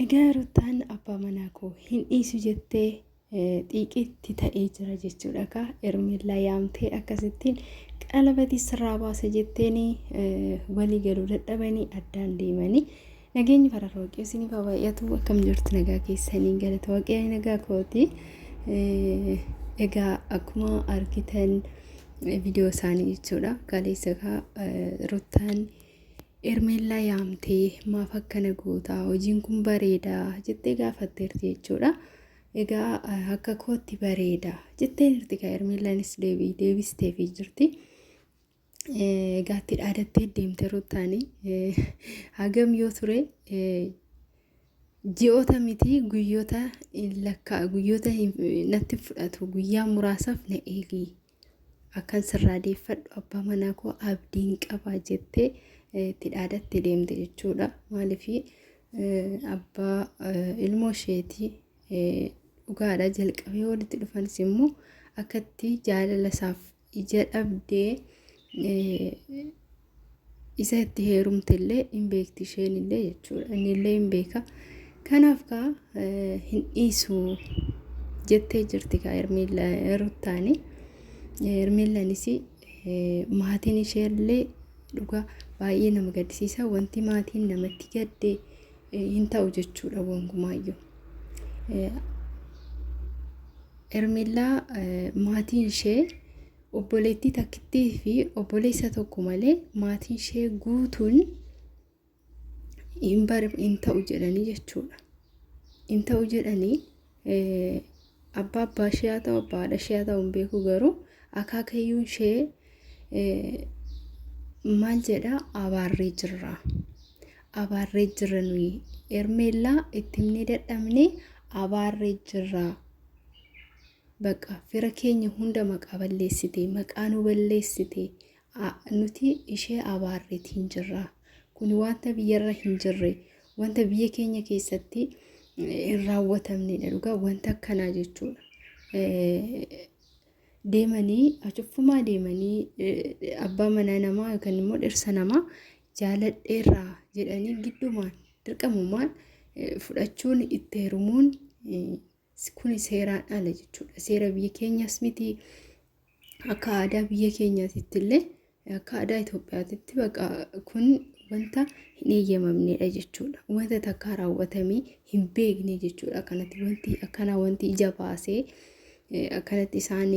Egaa Rutaan abbaa manaa koo hin dhiisu jettee xiiqiitti ta'ee jira jechuudha kaa Ermellaa yaamtee akkasittiin qalabatii sirraa baasa jetteenii walii galuu dadhabanii addaan deemanii nageenyi fararra waaqayyo isiniif haa baay'atu akkam jirtu nagaa keessanii galata waaqayyo nagaa kooti egaa akkuma argitan viidiyoo isaanii jechuudha kaleessa kaa Rutaan. Uh, Hermeellaa yaamtee maaf akkana goota hojiin kun bareeda jettee gaafatteerti jechuudha. Egaa akka kootti bareeda jetteen jirti kan Hermeellaanis deebii deebisteefii jirti. Egaa itti dhaadattee deemte ruttaanii hagam yoo ture ji'oota miti guyyoota lakkaa guyyoota natti fudhatu guyyaa muraasaaf na eegi Akkan sirraa deeffadhu abbaa manaa koo abdiin qaba jettee eh, itti dhaadattee deemte jechuudha. Maaliif abbaa eh, ilmoo isheetii eh, dhugaadha jalqabee walitti dhufanis immoo akkatti jaalala isaaf ija dhabdee eh, isa itti heerumte illee hin beekti isheen illee jechuudha inni illee hin beeka kanaaf kaa hin dhiisu jettee jirti kaa hermiilla ruttaani hermiillanis maatiin ishee illee dhugaa baay'ee nama gaddisiisa wanti maatiin namatti gadde hin ta'u jechuudha wankuma hermiillaa maatiin ishee Obboleettii takkittii fi obboleessa tokko malee maatiin ishee guutuun hin bar hin ta'u jedhanii jechuudha. Hin ta'u jedhanii eh, abbaa abbaa ishee haa ta'u abbaa haadha ishee haa ta'u hin beeku garuu akaakayyuun ishee eh, maal jedha abaarree jirra. Abaarree jirra nuyi ermeellaa itti himnee dadhabnee abaarree jirra. Baqa fira keenya hunda maqaa balleessite, maqaa nu balleessite, a, nuti ishee abaarreetiin jirra. Kun wanta biyyarra hin jirre, wanta biyya keenya keessatti eh, hin raawwatamnedha dhugaa wanta akkanaa jechuudha. Eh, deemanii achufumaa deemanii eh, abbaa manaa namaa yookaan immoo dhirsa namaa jaaladheerraa jedhanii giddumaan dirqamumaan eh, fudhachuun itti heerumuun eh, Kuni seeraan ala jechuudha. Seera biyya keenyaas miti. Akka aadaa biyya keenyaatitti illee akka aadaa Itoophiyaatitti baqa kun wanta hin eeyyamamnedha jechuudha. Wanta takkaa raawwatamee hin beekne jechuudha. Akkanatti wanti akkanaa wanti ija baasee akkanatti isaan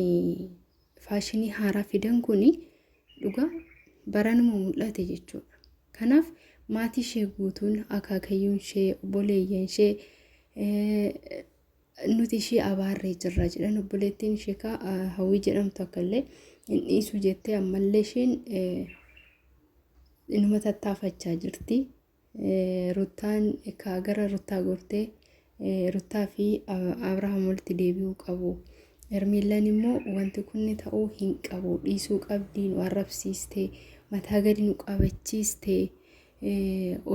faashinii haaraa fidan kun dhugaa baranuma mul'ate jechuudha. Kanaaf maatii ishee guutuun akaakayyuun ishee obboleeyyan ishee nuti ishee abaarree jirra jedhan obboleettiin ishee kaa hawwii jedhamtu akkallee hin dhiisu jettee ammallee isheen inuma tattaafachaa jirti. Ruttaan ka gara Ruttaa gortee Ruttaa fi Abrahaam walitti deebi'uu qabu. Hermiillaan immoo wanti kun ta'uu hin qabu dhiisuu qabdii nu arrabsiiste mataa gadi nu qabachiiste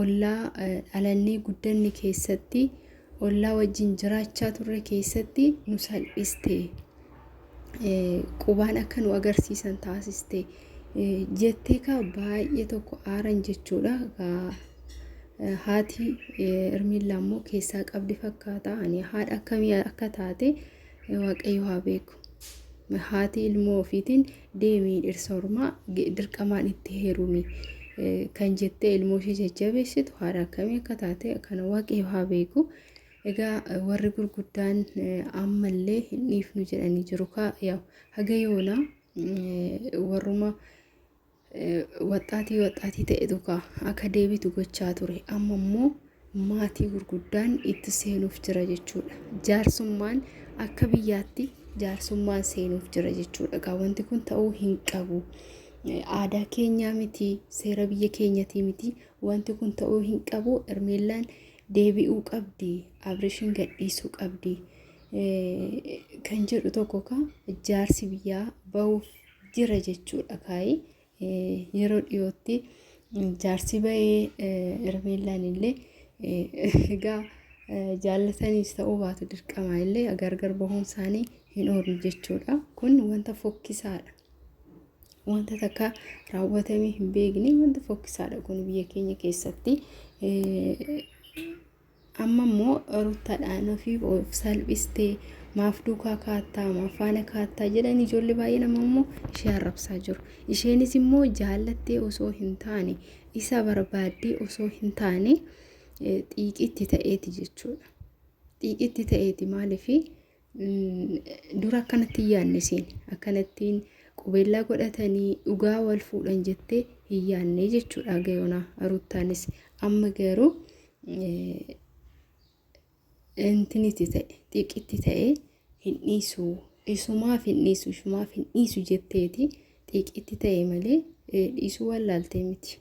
ollaa dhalannee guddanne keessatti ollaa wajjin jiraachaa turre keessatti nu salphiste. Qubaan akka nu agarsiisan taasiste. Jettee kaa baay'ee tokko aaran jechuudha. Haati Ermiillaa immoo keessaa qabdi fakkaata. Ani haadha akkamii akka taate waaqayyo haa beeku. Haati ilmoo ofiitiin deemi dhirsa ormaa dirqamaan itti heerumi kan jettee ilmoo ishee jajjabeessitu haadha akkamii akka taate kana waaqayyo haa beeku. Egaa warri gurguddaan ammallee hin dhiifnu jedhanii jiru kaa yaa'u haga yoona warruma waxxaatii waxxaatii ta'etu kaa akka deebitu gochaa ture amma immoo maatii gurguddaan itti seenuuf jira jechuudha. Jaarsummaan akka biyyaatti jaarsummaan seenuuf jira jechuudha. Egaa wanti kun ta'uu hin qabu. Aadaa keenyaa miti, seera biyya keenyatii miti. Wanti kun ta'uu hin qabu. Hermeellaan deebi'uu qabdi. Abrishiin gadhiisuu qabdi. Kan jedhu tokko kaa jaarsi biyyaa bahuuf jira jechuudha kaayee. Yeroo dhiyootti jaarsi ba'ee Hermeellaan illee egaa jaallataniis ta'uu baatu dirqama illee gargar bahuun isaanii hin oolu jechuudha. Kun wanta fokkisaadha. Wanta takka raawwatamee hin beekne wanta fokkisaadha kun biyya keenya keessatti. Amma immoo ruttadhaan ofii of salphistee maaf duukaa kaattaa maaf faana kaattaa jedhan ijoollee baay'een amma immoo ishee arrabsaa jiru. Isheenis immoo jaallattee osoo hin taane isa barbaaddee osoo hin taane xiiqitti ta'eeti jechuudha. Xiiqitti ta'eeti maaliif Dura akkanatti hin yaadne isheen akkanattiin qubeellaa godhatanii dhugaa wal fuudhan jettee hin yaadne jechuudha gayoonaa ruuttaanis amma garuu intiniti ta'e xiiqitti ta'e hin dhiisu isumaaf hin dhiisu isumaaf hin dhiisu jetteeti xiiqitti ta'e malee dhiisuu wallaaltee miti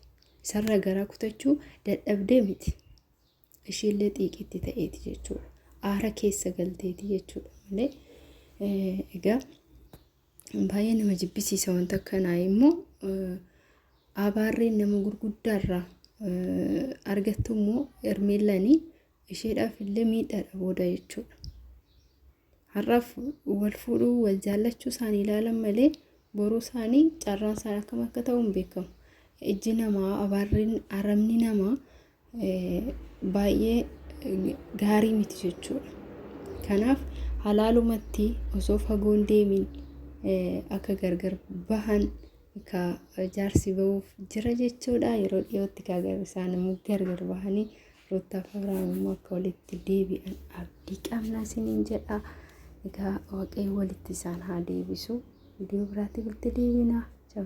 isarra garaa kutachuu dadhabdee miti. Ishiillee xiiqiitti ta'eeti jechuudha. Aara keessa galteeti jechuudha malee egaa baay'ee nama jibbisiisa wanta akkanaa immoo abaarreen nama gurguddaarraa argattu immoo hermeellanii isheedhaaf illee miidhaadha booda jechuudha. har'aaf wal fuudhuu wal jaallachuu isaanii ilaalan malee boruu isaanii carraan isaan akkam akka ta'u hin beekamu. Ijji namaa abaarri aramni namaa baay'ee gaarii miti jechuudha. Kanaaf halaalumatti osoo fagoon deemin akka gargar bahan ka jaarsi bahuuf jira jechuudha. Yeroo dhiyootti kaa isaan immoo gargar bahanii Ruttaaf Abrahaam immoo akka walitti deebi'an abdii qabnaa isiniin jedha. Egaa waaqayyo walitti isaan haa deebisu. Viidiyoo biraatti walitti deebina. Ciao.